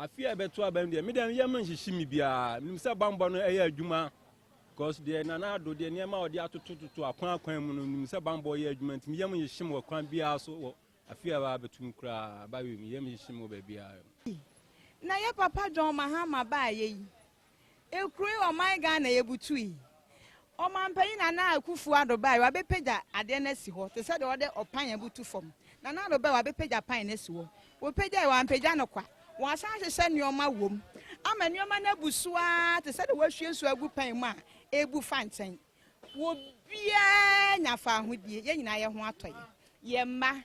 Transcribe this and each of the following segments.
afi a ɛbɛto aba no deɛ me deɛ yɛm nhyehye me biara menim sɛ bambɔ no ɛyɛ adwuma because deɛ nana ado deɛ nneɛma a wɔde atotototo akwan akwan mu no menim sɛ bambɔ yɛ adwuma nti meyɛm nhyehye me wɔ kwan biara so wɔ afi a ɛbɛa bɛtom koraa ba wei meyɛm nhyehye me wɔ baabiara na yɛ papa john mahama baayɛ yi Ekuro yi ɔman Ghana yɛbutu yi ɔmanpanyin Nana Akufo Addo bae wabɛpagya adeɛ no asi hɔ te sɛ deɛ ɔde ɔpan abutu fam. Nana Addo bae wabɛpagya pan no asi hɔ. Wɔpagyae wampagya no kwa. Wɔasan ahyehyɛ nnoɔma wom ama nnoɔma no abu so ara te sɛ deɛ wɔahwie nsuo agu pan mu a ɛrebu fa nkyɛn. Obiara nya faahodie. Yɛn nyinaa yɛn ho atɔ yɛn. Yɛn mma.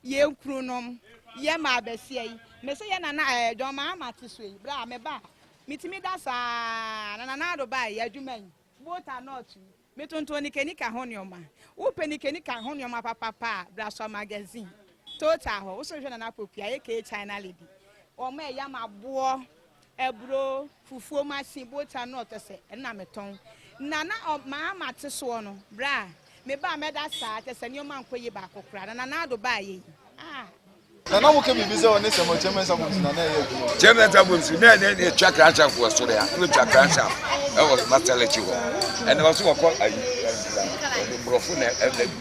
Yɛn kununom, yɛn mmaa basia yi, me se yɛn nana ɛɛ eh, John Mahama te so yi, berɛ a meba a, metumi da saa na Nana Addo baeɛ yɛ adwuma yi, both are not yi. Metontɔn nikanika ho nneɛma. Wopɛ nikanika ho nneɛma papapa a, bra Sua Magazine, Total hɔ. Wo so hwɛ Nana Poku a, aka China Lady. Wɔn ɛyam aboɔ. Aburo, fufuo, masin, boota, nut ɛsɛ na me tɔn. Na na ɔ maa mate soɔ no berɛ a me baa mɛda saa kyɛ sɛ nneɛma nkɔ yie baako koraa na Nana Addo baeɛ yi ah. Na na woka biribi sɛ ɔne Samuel Chairman's Albums na na ɛyɛ adwuma o. Chairman's Albums na ɛne ɛne ɛtwa crankshaft wɔ soro ya, na ɛtwa crankshaft ɛwɔ Master Lekki hɔ. Ɛna ɔso wɔkɔ ayi, ɛna borɔfo na ɛna bi.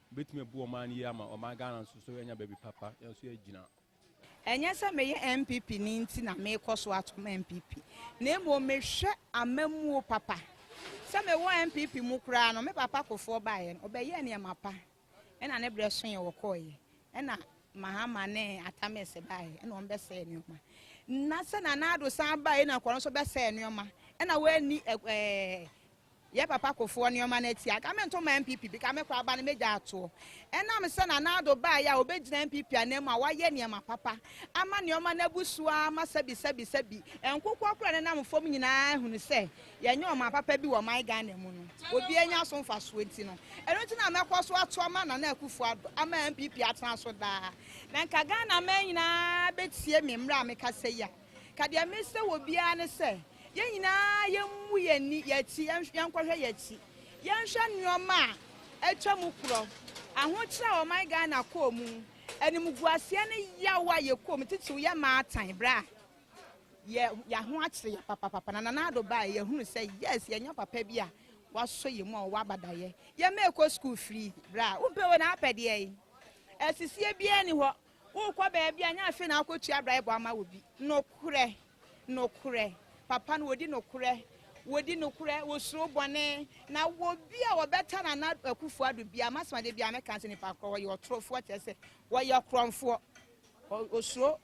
Wobɛtumi abu ɔman no yie ama ɔman Ghana nso so anya baabi papa, yɛn nso yɛagyina. Ɛnyɛ sɛ meyɛ NPP ni nti na merekɔ so atom NPP, na mmom mehwɛ amammuo papa. Sɛ mewɔ NPP mu koraa no, me papa Kufour baeɛ no, ɔbɛyɛɛ nneɛma pa, ɛna ne berɛ soeɛ ɔkɔeɛ, ɛna Mahama ne Atta Mills baeɛ, ɛna wɔbɛsɛee nneɛma. Na sɛ Nana Addo san baeɛ na Kufour nso bɛsɛee nneɛma, ɛna wɔanni ɛɛ Yɛ papa kofoɔ nnoɔma no atia anka me nto ma NPP bika me koraa ba no mɛgya atoɔ ɛnam sɛ Nana Addo baeɛ a ɔbɛgyina NPP anan mu a wayɛ nneɛma papa ama nnoɔma no abu so ara ma sɛbi sɛbi sɛbi nkokoɔ koraa nenam fam nyinaa ahunu sɛ yɛnyɛ ɔman papa bi wɔ ɔman Ghana mu no obiara nya so mfasoɔ nti no ɛno nti na mɛkɔ so ato ama Nana Akufo Addo ama NPP atena so daa na nka Ghana man nyinaa bɛtie me mmerɛ a mekasa yi a. Ka deɛ mesrɛ wɔ biara ne sɛ yɛn nyinaa yɛmmu yɛn ani yɛn akyi, yɛnkɔhwɛ yɛn akyi, yɛnhwɛ nnoɔma a atwa mu korɔ, ahokyerɛ a ɔman Ghana kɔɔ mu, animguaseɛ ne yaw a yɛkɔɔ mu titiriw yɛ maatan berɛ a yɛ yɛaho akyere yɛn papapapa na Nana Addo baeɛ yɛhunu sɛ yes yɛnya papa bi a wasɔ yɛn mu a ɔwɔ abadaeɛ, yɛn mma ɛkɔ sukuu free berɛ a wompɛ wei na apɛ deɛn? Asisie biara nni hɔ. Worekɔ baabi a, nyɛ afei na woakɔtua braebɔ ama obi. Nokorɛ, nokorɛ, papa no wɔdi nokorɛ, wɔdi nokorɛ, wɔsuro bɔne, na obi a wɔbɛta Nana Akufo-Addo biara, m'asɛm a da biara mɛka sɛ nipa korɔ, ɔyɛ ɔtorofoɔ, kyerɛ sɛ ɔyɛ ɔkorɔmfoɔ, ɔsuro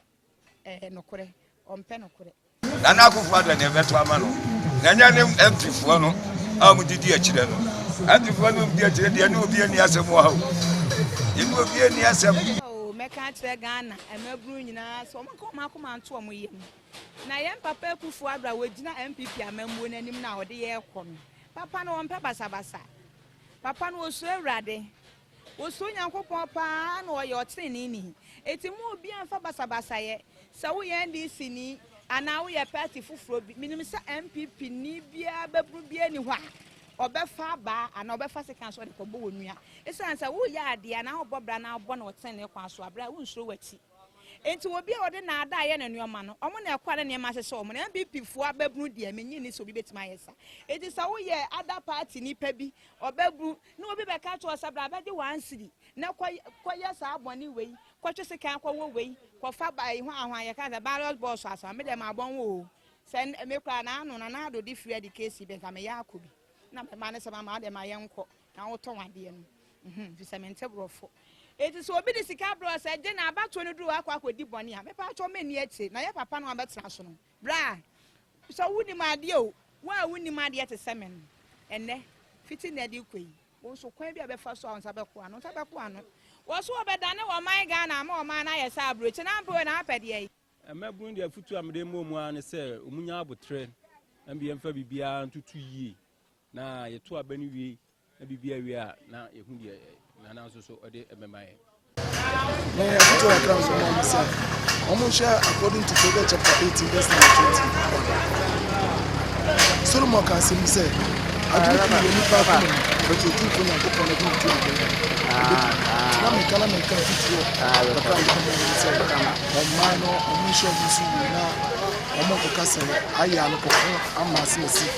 nokorɛ, ɔmpɛ nokorɛ. Nana Akuffo Addo na ɛbɛto ama no na ɛnyɛ ne MP foɔ no a wɔn didi akyire no. MP foɔ no di akyire deɛ ne obi ani asɛm wɔ ha o. Yɛne obi ani asɛm. Ao mɛka akyerɛ Ghana mmabunu nyinaa sɛ wɔnka wɔn akoma nto wɔn yam. Na yɛn papa Akuffo Addo a wɔgyina NPP amammuo no anim no a wɔde yɛn rekɔ no, papa no ɔmpɛ basabasa. Papa no ɔsuro Awurade. Osuro Nyankopɔn paa na ɔyɛ ɔtreneeni. Enti mma obiara mfa basabasayɛ. Sɛ woyɛ NDCni anaa woyɛ party foforɔ bi, menim sɛ NPPni biara bɛbunu biara nni hɔ a ɔbɛfa abaa anaa ɔbɛfa sekan so de kɔbɔ wo nua. Esiane sɛ woyɛ adeɛ anaa wobɔ bra anaa wobɔ no wɔ tenenee kwan so a, bra, wonsuro w'akyi. Enti obi a wɔde nnaadaa yɛ ne nnoɔma no, wɔn na ɛkɔ a na nneɛma ahyehyɛ wɔn. Na NPPfoɔ abɛbunu deɛ, mennye nni sɛ obi bɛtumi ayɛ saa. Enti sɛ woyɛ other party nipa bi, ɔbɛbunu. Na obi bɛka akyerɛ wo sɛ, Bra bɛgye w'ansiri, na kɔ kɔyɛ saa bɔne wei, kɔtwe sekan kɔwɔ wei, kɔfa ɛyi ho ahoa, yɛka sɛ ballot box asɛm a, me deɛ mabɔ ho oo, sɛ me koraa naano Nana Addo de free de case bi nka meyɛ akɔ bi, na me mma no sɛ mama wo deɛ ma yɛnkɔ na wotɔn adeɛ no, mhm, firi sɛ mente borɔfo. Enti sɛ obi de sika brɛ wo sɛ gye na abatoɔ no duru hɔ akɔ akɔdi bɔne a, mepɛ akyɛw menni akyire, na yɛ papa no a wobɛtena so no, Bra, sɛ wonim adeɛ o. Wo a wonnim adeɛ te sɛ me no, ɛnnɛ, fiti nnɛ de rekɔ yi, wo nso kwan bi a ɛbɛfa so a wo nsa bɛko ano, wo nsa bɛko ano. Wɔso wɔbɛdane ɔman Ghana ama ɔman no ayɛ sɛ aburokyi, na ampɛ o, na apɛ deɛ yi. Mmabunu deɛ afutuo a mede rema wɔn ara ne sɛ wɔnya aboterɛ, na mmom yɛmfa biribiara ntoto yie, na yɛto aba no wie Na biribi awie a, na yɛhu deɛ Nana nso so ɔde bɛma yɛn. Na yɛn afotuo kakra nso ma wɔn sɛ, wɔnhwɛ according to Proverbs chapter 18 verse number 21. Solomon ka asɛm bi sɛ, adwene tumi wɔ nipa akoma mu, but otumfoɔ Nyankopɔn no adwene tumi bɛn. Na meka na meka afotuo kakra a yɛbɛma wɔn sɛ, ɔmmaa no wɔnhwɛ wɔn so yie na wɔnkɔka sɛ ayɛ a no kɔko ama asɛm asi.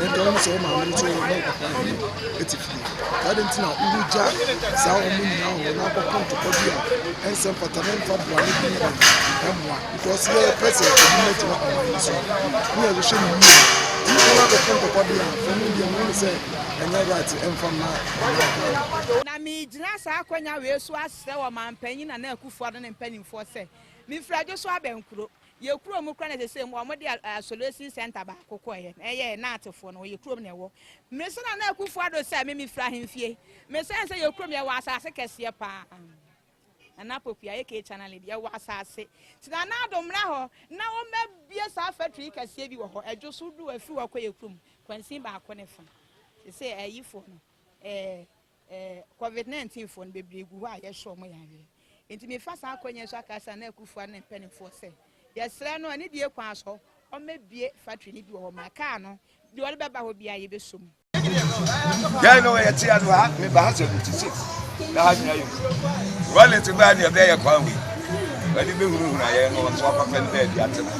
Ɛnde ɔno sɛ wo maame no nso wo ne akwadaa no nyinaa te fie. Saa de nti na wogya saa wɔn nyinaa hɔ na akɔko ntɔkwa bi a ɛnsɛ mfata na ɛmfa bra no bi na ɛmmoa. Because yɛpɛ sɛ ɛbi na gyina ɔman no so. Ne yɛ hwehwɛ no yie. Nnipa no akɔko ntɔkwa bi a ɔno deɛ ɔno ne sɛ ɛnyɛ right ɛmfa mma ɔman. Na megyina saa akwanya wei so asrɛ ɔmanpanyin Nana Akufo-Addo ne mpanimfoɔ sɛ, mefiri Adwoso Abɛnkuro. Yɛ kurom mu kora na sese mu wɔn de isolation center baako kɔ yɛ na ɛyɛ yɛ naatefo no wɔyɛ kurom na ɛwɔ me sɛ na na akufo ado sɛ me me fira hemfie me sɛ nsɛ yɛ kurom yɛ wɔ asase kɛseɛ paa na na pokuya yɛ kee channel bi yɛ wɔ asase ti na na ado mmra hɔ na wɔn bɛ bie saa factory kɛseɛ bi wɔ hɔ ɛdwo so do afiri hɔ kɔ yɛ kurom kwansin baako ne fa sese ɛyifo no ɛɛ. Eh, covid nineteen foɔ no bebree gu hɔ a yɛhyɛ wɔn yareɛ. Nti mefa saa akwanya so aka saa na akufoɔ ne mpanimfoɔ sɛ yɛsrɛ no ɛne deɛ kwan so wɔmɛbie factory no bi wɔ hɔ ma kaa no deɛ ɔde bɛba hɔ biara yɛbɛsɔ mu. Yɛn no yɛte ya no ha meba ha sɛ fifty six na ha nyina yɛ wallet baa ne ɛbɛyɛ kwan wei wɔde bɛhunahuna yɛn no wɔn so akɔfɛ no baabi atena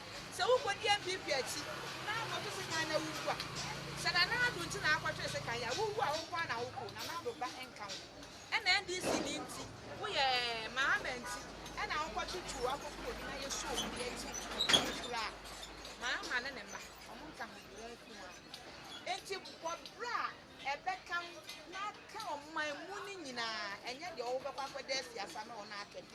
Sɛ wokɔdi NPP akyi na akɔto sekan na wuwu a, sɛ Nana Addo nti na akɔtwere sekan yi a, wuwu a wo nko ara na wokɔ o, Nana Addo ba nka ho. Ɛna NDC ni nti, woyɛ Mahama nti ɛna wokɔtwetwe o, akɔku obi na yɛsɔ obi de ati nfura a, Mahama ne ne mma, wɔn nka ho bio, wɔn nko ara. Enti bɔ bra a ɛbɛka ho na ka ɔman mu no nyinaa, ɛnyɛ deɛ wobɛkɔ akɔda afiase ama wɔn akɛdɛ.